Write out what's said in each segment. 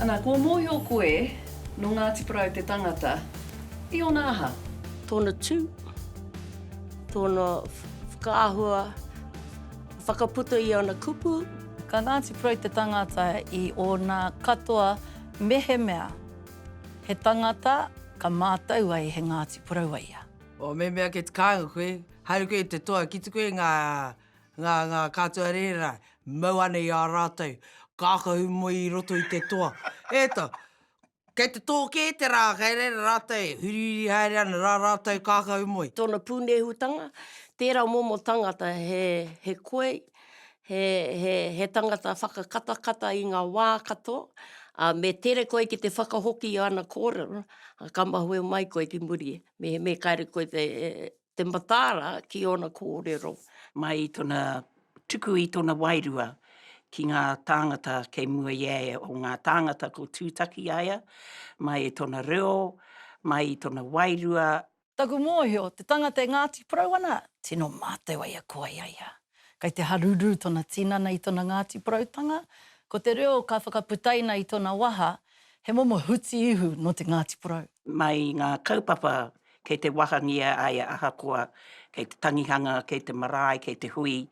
Ana, kua mōhio koe, nō Ngāti Porou te tangata, i ōna aha? Tōna tū, tōna whakaahua. Whakaputa i ana kupu. Ka Ngāti Porou te tangata i ōna katoa mehemea he tangata ka mātau ai he Ngāti Porou a ia. O mehemea kei te kāinga koe, haere koe i te toa ki te koe ngā, ngā, ngā kātua rēhera mau ana i a rātou, kākahu moe i roto i te toa. E ta! Kei te tō kē te rā, kei reira rātou e hurihuri haere ana rā rātou kākau moe. Tōna pūnehutanga, tērā momo tangata he koi, he tangata whakakatakata i ngā wā katoa, ā, me tere koe ki te whakahoki i āna kōrero, ka mahue mai koe ki muri, mehemea kāre koe te mataara ki ōna kōrero. Mai i tona tuku i tona wairua ki ngā tāngata kei mua i a ia, o ngā tāngata ko Tūtaki a ia, mai i tona reo, mai i tona wairua. Taku mōhio, te tangata e Ngāti Porou ana, tino mātau ai a koe i a ia. Kei te haruru tona tinana i tona Ngati Porautanga, ko te reo ka whakaputaina i tona waha, he momo huti ihu no te Ngati Porou. Mai i nga kaupapa kei te wahangia ai ahakoa kei te tangihanga, kei te marae, kei te hui,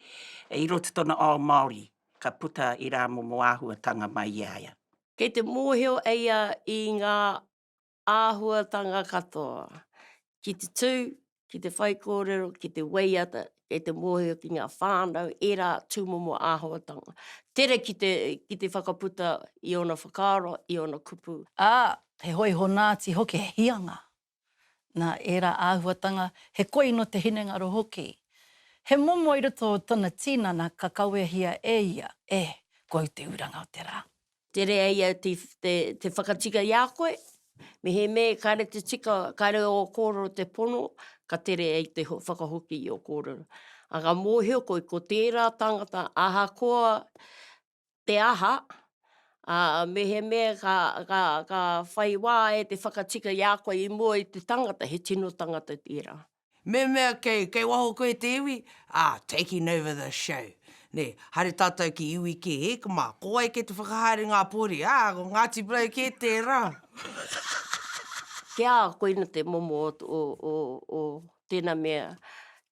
i roti tona ao Maori, ka puta i ra momo ahuatanga mai i a ia. Kei te mohio eia i nga āhuatanga katoa, ki te tū, ki te whaikōrero, ki te waiata, ki te mōhio ki ngā whānau, ērā tūmomo āhuatanga. Tere ki te, ki te whakaputa i ōna whakaaro, i ōna kupu. Ā, he hoihonaati hoki, he hianga. Nā ērā āhuatanga, he koi nō te hinengaro hoki. He momo i roto o tōna tīnana ka kawehia e ia, e, ko au te uranga o te rā. Tere ai au te, te, te whakatika i a koe, mehemē kāre te tika, kāre ō kōrero te pono, ka tere ai te whakahoki i ō kōrero. A ka mōhio koe, ko tērā tāngata, ahakoa te aha, ā, mehemē ka, ka, ka whai wā e te whakatika i a koe i mua i te tangata, he tino tangata tērā. Me mea kei, kei waho koe te iwi, ā, taking over the show, nē, haere tātou ki iwi kē, hē, ka mā, ko wai kē te whakahaere ngā pōri, ā, ko Ngāti Porou kē tērā. Kia, koina te momo o, o, o, o tēnā mea,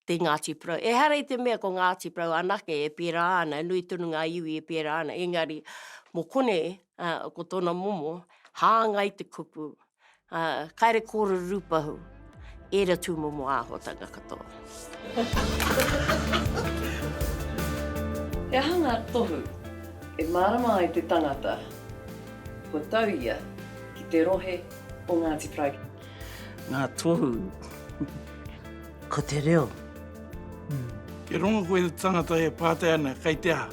te Ngāti Porou. Ehara i te mea ko Ngāti Porou anake e pērā ana, nui tonu ngā iwi e pērā ana, engari, mō konei, ā, ko tōna momo, hāngai te kupu, Ā, kāre kōrero rūpahu, ērā tūmomo āhuatanga katoa. He aha ngā tohu e mārama ai te tangata kua tau ia ki te rohe o Ngāti Porou? Ngā tohu, ko te reo. Kia rongo koe i te tangata e pātai ana kei te aha,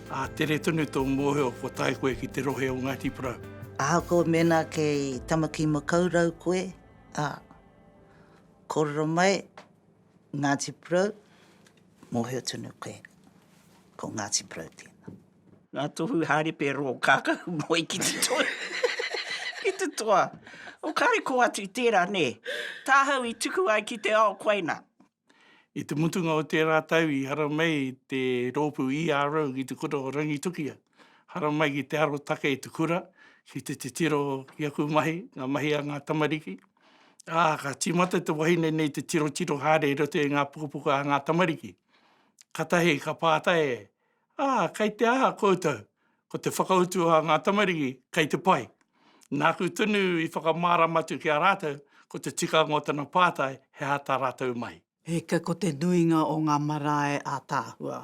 ā, tere tonu tō mōhio kua tae koe ki te rohe o Ngāti Porou. Ahakoa mēnā kei Tamakīmakaurau koe, ā, kōrero mai, Ngāti Porou, mōhio tonu koe, ko Ngāti Porou tēnā. Ngā tohu hāripe rō kākahu moe ki te toa. ki te toa. O kāre kō atu tērā, nē. Tāhau i tuku ai ki te ao koina. I te mutunga o tērā tau i haramai te rōpū ERO ki te kura o Rangitukia, haramai ki te arotake i te kura ki te titiro i aku mahi, ngā mahi a ngā tamariki, ā, ka tīmata te wahine nei te tirotiro haere i roto i ngā pukapuka a ngā tamariki. Katahi ka pātai e. Ā, kei te aha koutou? Ko te whakautu a ngā tamariki, Kei te pai. Nāku tonu i whakamārama atu ki a rātou, ko te tikanga o tana pātai, he aha tā rātou mahi. Hika ko te nuinga o ngā marae ātaahua.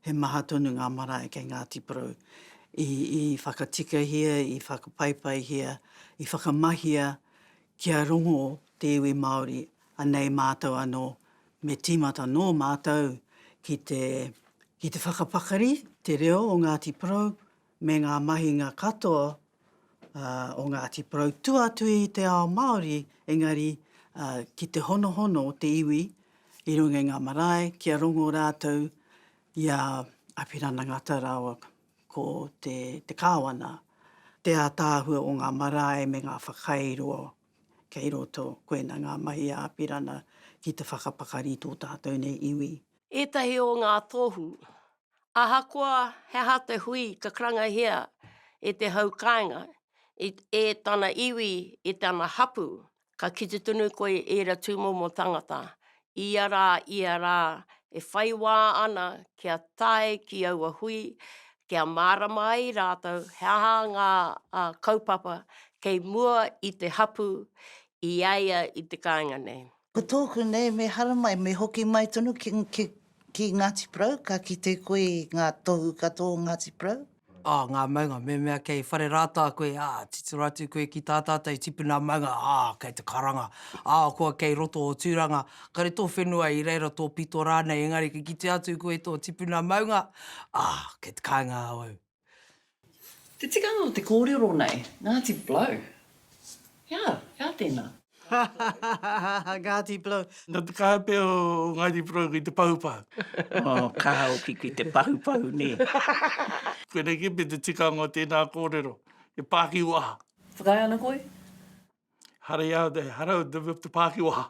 He maha tonu ngā marae kei Ngāti Porou. I whakatikahia, i whakapaipaihia, i whakamahia kia rongo te iwi Māori, anei mātou anō Me tīmata nō mātou ki te, ki te whakapakari te reo o Ngāti Porou me ngā mahinga katoa o Ngāti Porou, tua atu i te ao Māori, engari ki te honohono o te iwi i runga i ngā marae, kia rongo rātou i a Apirana Ngata rāua ko te, te Kāwana, te ātaahua o ngā marae me ngā whakairo kei roto, koina ngā mahi a Apirana ki te whakapakari i tō tātou nei iwi. Ētahi o ngā tohu. Ahakoa he aha te hui ka karangahia e te hau kāinga, e tana iwi, e tana hapū, ka kite tonu koe i ēra tūmomo tangata, ia rā, ia rā, e whai wā ana kia tae ki aua hui, kia mārama ai rātou he aha ngā kaupapa kei mua i te hapū i a ia i te kāinga nei. Ko tōku nei, me haramai, me hoki mai tonu ki Ngāti Porou, ka kite koe i ngā tohu katoa o Ngāti Porou. Oh, ngā maunga, mēmea kei whare rātā koe, ah, titiro atu koe ki tā tātou tipuna maunga, ah, kei te karanga, ah, kua kei roto o Tūranga, kare tō whenua i reira, tō pito rānei, engari ka kite atu koe tō tipuna maunga, ah, kei te kāinga au. Te tikanga o te kōrero nei, Ngāti Blow. He aha, he aha tēnā? Hahahahaha Ngāti Porou. Nō te kaha pea o Ngāti Porou ki te pahupahu. Nō te kaha hoki ki te pahupahu nē. Koinei kē pea te tikanga o tēnā kōrero, he pākiwaha. Whakaae ana koe? Hara iau te, hara te pākiwaha.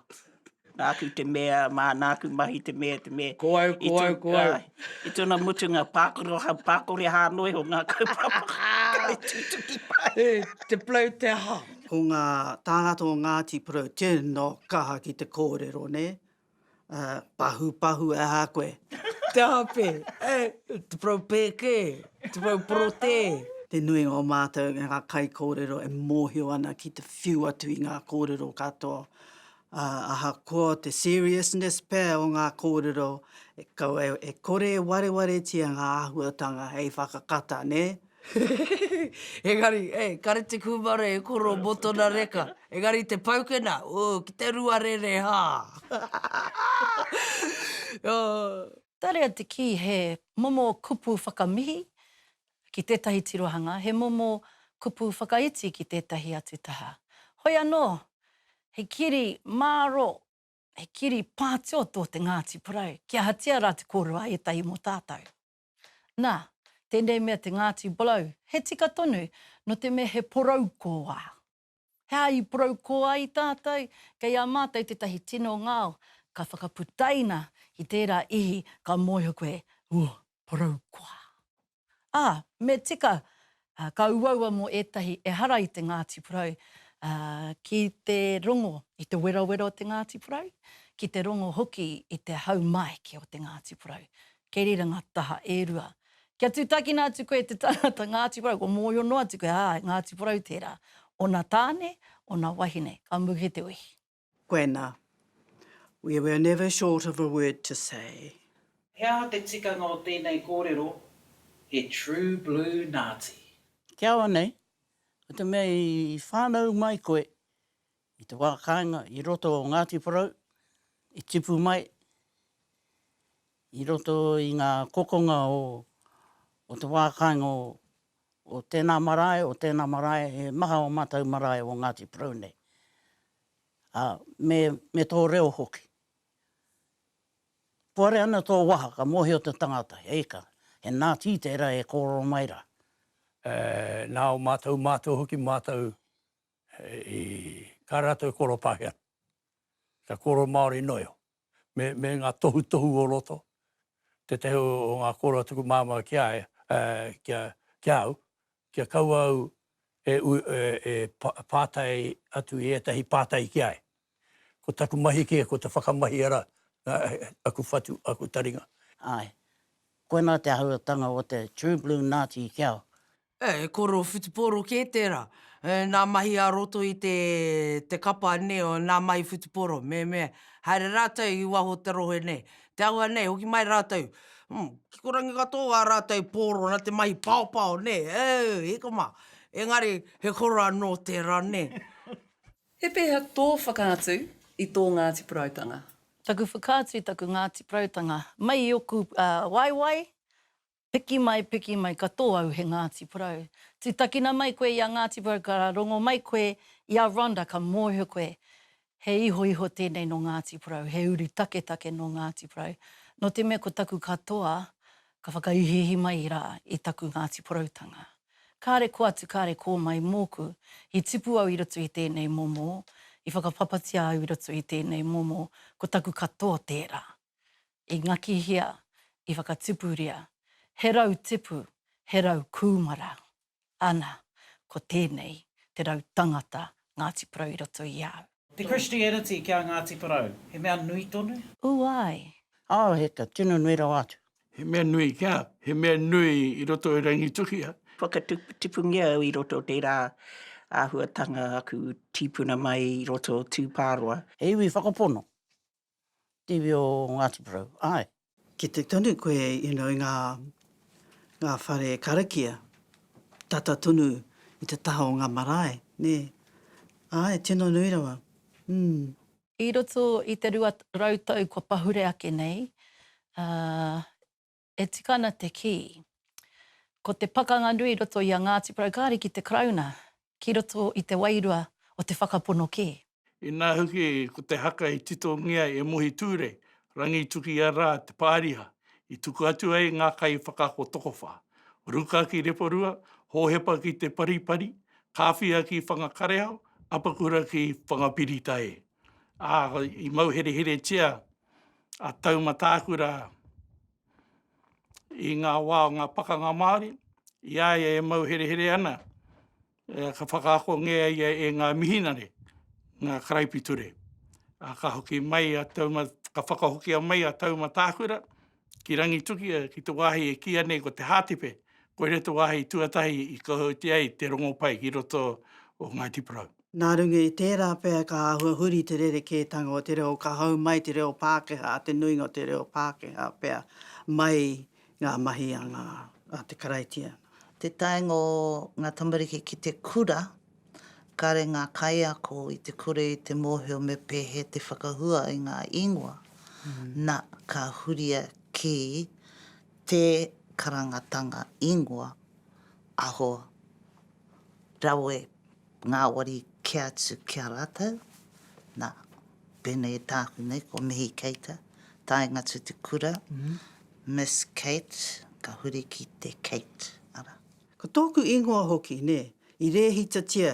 Nāku te mea, mā nāku mahi te mea, te mea. Ko au, ko au, ko au. I tōna mutunga, pākoro, pākore hā noa iho ngā kaupapa kai tūtuki pai. E, te plau te aha? Ko ngā tāngata o Ngāti Porou tino kaha ki te kōrero, nē? Pahupahu e aha koe? Te aha pē? E, te porou pēke, te porou porotē. Te nuinga o mātou, ngā kaikōrero e mōhio ana ki te whiu atu i ngā kōrero katoa Ā, ahakoa te seriousness pea o ngā kōrero, e kaua e kore e warewaretia ngā āhuatanga hei whakakata, nē? Engari, e, kare te kūmara e koro mō tōna reka, engari te paukena, ū, ki te ruarere, hā! Ō! Tarea te kī he momo kupu whakamihi, Ki tētahi tirohanga, he momo kupu whakaiti ki tētahi atu taha. Hoi anō, he kiri māro, he kiri pātio tō te Ngāti Porou, ki ahatia rā te kōrua a ētahi mō tātou. Nā, tēnei mea te Ngāti Bolou, he tika tonu, nō te mea he porou kōwā. He aha i porou koa ai tātou? Kei a mātou tētahi tino ngao ka whakaputaina ki tērā ihi ka mōhio koe, Ū, porou koa. Ā, me tika, ka uaua mō ētahi ehara i te Ngāti Porou, ā, ki te rongo i te werawera o te Ngāti Porou, ki te rongo hoki i te haumaiki o te Ngāti Porou. Keriranga taha e rua. Kia tutakina atu koe te tangata Ngāti Porou, kua mōhio noa atu koe, ā, he Ngāti Porou tērā, ōna tāne, ōna wahine, ka muhe te wehi. Koena. We were never short of a word to say. He aha te tikanga o tēnei kōrero, he true blue Ngāti? Kia ora nei. Ko te mea i whānau mai koe I te wā kāinga i roto o Ngāti Porou, i tipu mai i roto i ngā kokonga o, o te wā kāinga o, o tēnā marae, o tēnā marae, he maha o mātou marae o Ngāti Porou nei. Ā, me, me tō reo hoki. Puare ana tō waha, ka mōhio te tangata, eika, he Nāti tērā e kōrero mai rā. E, nā o mātou mātua hoki, mātou I, ka ratou e koro Pakeha. Ka koro Maori noio. Me, me nga tohutohu o roto, tetahi o nga koro a tuku mama ki a, ki a, ki a au, kia kaua au e, e, e patai atu i etahi patai ki a e. Ko taku mahi ke, ko te whakamahi ara, aku whatu, aku taringa. Ae. Koina te ahuatanga o te true blue Nazi ki au. Eh, he koro whutupōro kē tērā. Eh, nā mahi ā roto i te, te kapa nei, oh, nā mahi whutupōro, me, me, haere rātou i waho o te rohe nei. Te āhua nei, hoki mai rātou, hmm, kikorangi katoa ā rātou pōro nā te mahi paopao nei, oh, hiko mā. Engari, he koro anō tērā nei. He pēhea tō whakaatu i tō Ngāti Porautanga? Taku whakaatu i taku Ngāti Porautanga, mai i oku waewae, Piki mai, piki mai, ka tō au he Ngāti Porou. Tūtakina mai koe i a Ngāti Porou, ka rongo mai koe i a Rhonda, ka mōhio koe, he ihoiho tēnei nō Ngāti Porou, he uru taketake nō Ngāti Porou. Nō te mea ko taku katoa, ka whakaihiihi mai rā i taku Ngāti Poroutanga. Kāre kō atu, kāre kō mai mōku, i tipu au i roto i tēnei momo, i whakapapatia au i roto i tēnei momo, ko taku katoa tērā. i ngakihia, i whakatipuria, he rau tipu, he rau kūmara, ana, ko tēnei te rau tangata Ngāti Porou i roto i au. Te Christianity ki a Ngāti Porou, he mea nui tonu? Ū ai. Ao heka, tino nui rawa atu. He mea nui kia, he mea nui i roto i Rangitukia. Whakatipungia au i roto o tērā āhuatanga aku tīpuna mai i roto o Tūpāroa. He iwi whakapono, Tiwi o Ngati Porou, ae. Kite tonu koe you know i nga nga whare karakia tata tonu i te taha o nga marae ne ae tino nui rawa umm. I roto i te rua rau tau kua pahure ake nei, a. e tika ana te kī, ko te pakanga nui i roto i a Ngāti Porou kāre ki te Karauna ki roto i te wairua o te whakapono kē. Inā hoki ko te haka i titongia e Mohi Ture, Rangituki-a-Rā te pāriha, i tuku atu ai ngā kaiwhakaako tokowhā, Ruka ki Reporua, Hōhepa ki Te Paripari, Kāwhia ki Whangakareao, Apakura ki Whangapirita e. Ā, i mauhereheretia a Taumatākura i ngā wā o ngā pakanga Māori, i a ia e mauherehere ana, ka whakaakongea ia e ngā mihinare, ngā karaipiture. Ā, ka hoki mai a Taumatākura, ka whakahokia mai a Taumatākura, ki Rangitukia, ki te wāhi e kīia nei ko Te Hātepe, koira te wāhi tuatahi i kohautia ai te rongopai ki roto o Ngāi Tiparau. Nā runga i tērā pea ka āhua huri te rerekētanga o te reo, ka hou mai te reo Pākehā, te nuinga o te reo Pākehā pea, mai ngā mahi a ngā, a te Karaitiana. Te taenga o ngā tamariki ki te kura. Kāre ngā kaiako i te kore i te mōhio me pēhea te whakahua i ngā ingoa, na, ka huria ki te karangatanga ingoa, aho, rawe, ngāwari kē atu ki a rātou, na, pēnei i tāku nei, ko Mihi Keita, Taingatu Te Kura, Miss Kate, ka huri ki te Kate, ara. Ko tōku ingoa hoki, nē, i rēhitatia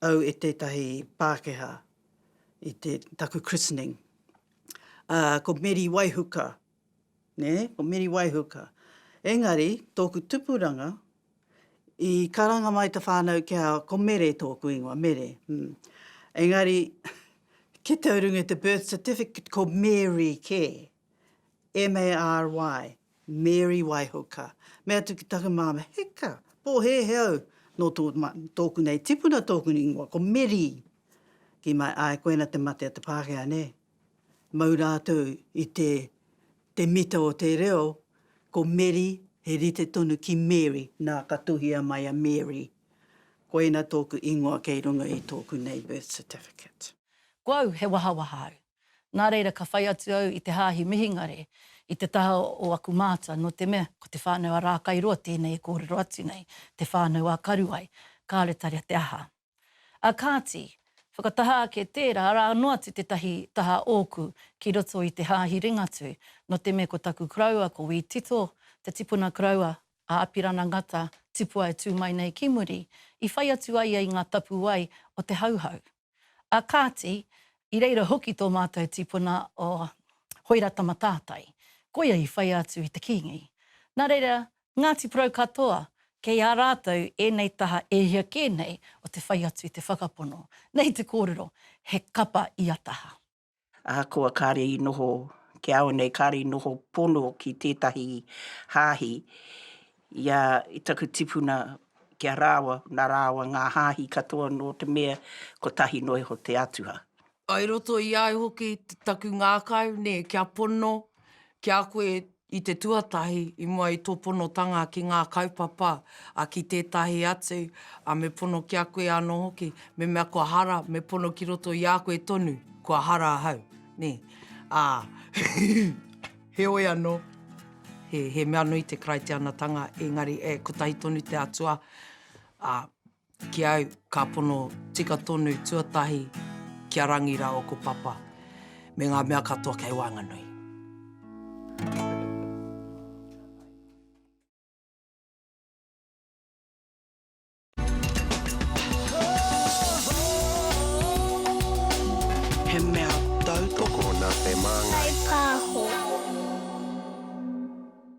au e tētahi Pākehā i te, taku christening. Ā, ko Meri Waihuka, nē, ko Meri Waihuka. Engari, tōku tupuranga, i karanga mai te whānau ki a, ko Mere tōku ingoa, Mere. Engari, ki te urungi o te birth certificate, ko Mary kē, M-A-R-Y. Mary Waihoka, mea atu ki taku māmā, Heka, pōhēhē au, nō tōku nei tipuna tōku ingoa, ko Meri. Kī mai, Āe, koina te mate a te Pākehā, nē? Mau rātou i te, te mita o te reo, ko Meri, he rite tonu ki Mary, nā, ka tuhia mai a Mary. Koina tōku ingoa kei runga i tōku nei birth certificate. Ko au, he wahawaha au. Nā reira ka whai atu au i te hāhi Mihingare i te taha o aku mātua, nō te mea, ko te whānau a Rākairoa tēnei e kōrero atu nei, te whānau a Karuai, kāore tarea te aha. Ā kāti, whakataha ake tērā, arā noa atu tētahi taha ōku ki roto i te hāhi Ringatū, nō te mea ko taku koroua ko Wī Tito, te tipuna koroua a Apirana Ngata, tipua e tū mai nei ki muri, i whai atu ai ia i ngā tapuwae o te Hauhau. Ā kāti, i reira hoki tō mātou tipuna o Hoira-tama-tātai, koia i whai atu i te Kīngi. Nā reira, Ngāti Porou katoa, kei a rātou ēnei taha e hia kē nei o te whai atu i te whakapono. Nei te kōrero, he kapa ia taha. Ahakoa kāre i noho kia au nei, kāre i noho pono ki tētahi hāhi, i a taku tipuna ki a rāua, nā rāua ngā hāhi katoa nō te mea kotahi noa iho te atua. I roto i ai hoki taku ngākau, nē, kia pono, ki a koe I te tuatahi, i mua i tō ponotanga ki ngā kaupapa, ā, ki tētahi atu, ā, me pono ki a koe anō hoki, mehemea kua hara, me pono ki roto i a koe tonu, kua hara ahau, nē. Ā, heoi anō, he mea nui te Karaitianatanga, engari e kotahi tonu te Atua, ā. Ki au, ka pono tika tonu tuatahi kia rangi ra o ko Papa me nga mea katoa kei waenganui. He mea tautoko na te mangai. Hei paho.